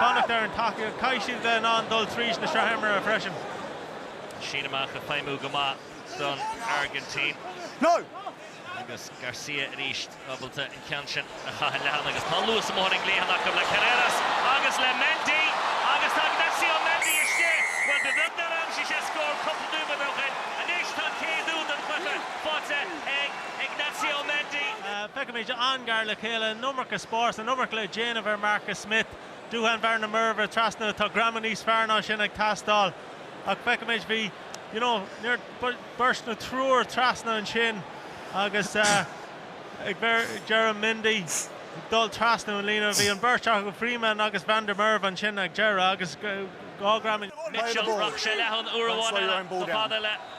fanacht ar an tacaíocht, caithfidh siad a bheith in ann dul tríd na sraithimreacha freisin. Síneadh amach ag feidhmiú go maith don Airgintín agus Garcia arís ábalta an ceann sin a chaitheamh leathan agus tá an luas amuigh ar an gcliathán acu le Carreras agus le Mendy agus tá Ignacio Mendy istigh! Bhuel, ba bheag nár aimsigh sé scór cúpla nóiméad ó shin. Anois tá an chéad úd den chluiche faighte ag. Ignacio Mendy. Feicimid an-ghar le chéile an iomarca spáis, an iomarca le déanamh ar Marcus Smith, Duhan van der Merwe trasna. Tá greamú níos fearr ná sin ag teastáil. Ach feicimid, bhí, you know, níor, beirt nó triúr trasna ansin agus ag bheir, ag deireadh Mendy ag dul trasna an líne. Bhí an bheirt acu, Freeman agus Van der Merwe ansin ag deireadh agus dhá ghreamú. Mitchell, rachadh sé leathan uair amháin eile, nó fad eile.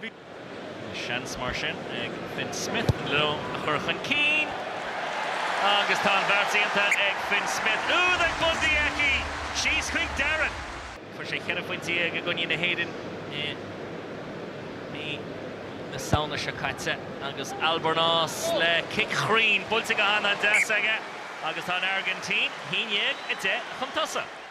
Bhí seans mar sin ag Fin Smith na Leoin a chur chun cinn agus tá an bheart déanta ag Fin Smith. Úd ag Bundee Aki! Síos chuig Darren. Fuair sé cheithre phointe dhéag i gcoinne na hÉireann i mí na Samhna seo caite agus Albornoz le cic chruinn buailte go han-deas aige agus tá an Airgintín a haon déag a deich chun tosaigh.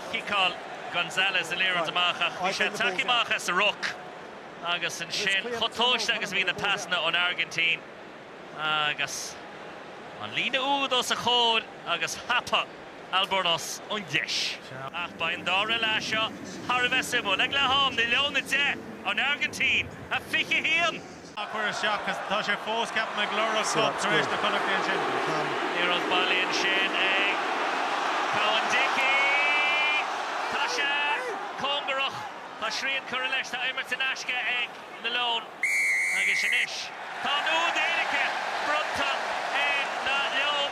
Chiceáil Gonzalez an liathróid amach ach bhí sé ag teacht amach as an ruc agus ansin chomh tomhaiste agus a bhí na pasanna ón Airgintín agus an líne úd os a chomhair agus thapa Albornoz an deis. Ach beidh an dara leath seo thar a bheith suimiúil. Ag leath-am, na Leoin 10, an Airgintín 21! á chur isteach agus tá sé fós ceaptha ag lorg scóip tar éis do Chonnacht é ansin. Liathróid bailithe ansin ag Cowan-Dickie. Tá sé cóngarach. Tá srian curtha leis. Tá imirt in aisce ag na Leoin agus anois tá an úd éirice bronnta ar na Leoin.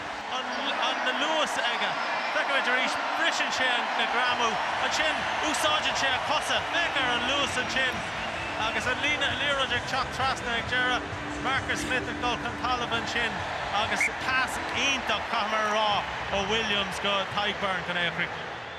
an-luas aige. Feicimid arís, briseann sé an greamú. Ansin, úsáideann sé a chosa. Féach ar an luas ansin agus an líne, an liathróid ag teacht trasna ag deireadh. Marcus Smith ag dul chun talaimh ansin agus pas iontach, caithfimid a rá, ó Williams go Tadhg Beirne chun é a chríochnú.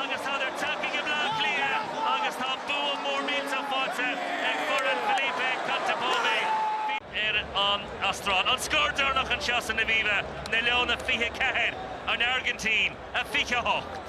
agus tá na teaghlaigh i mBleá Cliath agus tá bua mór millteach faighte ag foireann Felipe Contepomi. ar an Astráil, an scór deireanach anseo san Aviva, na Leoin 24, an Airgintín 28.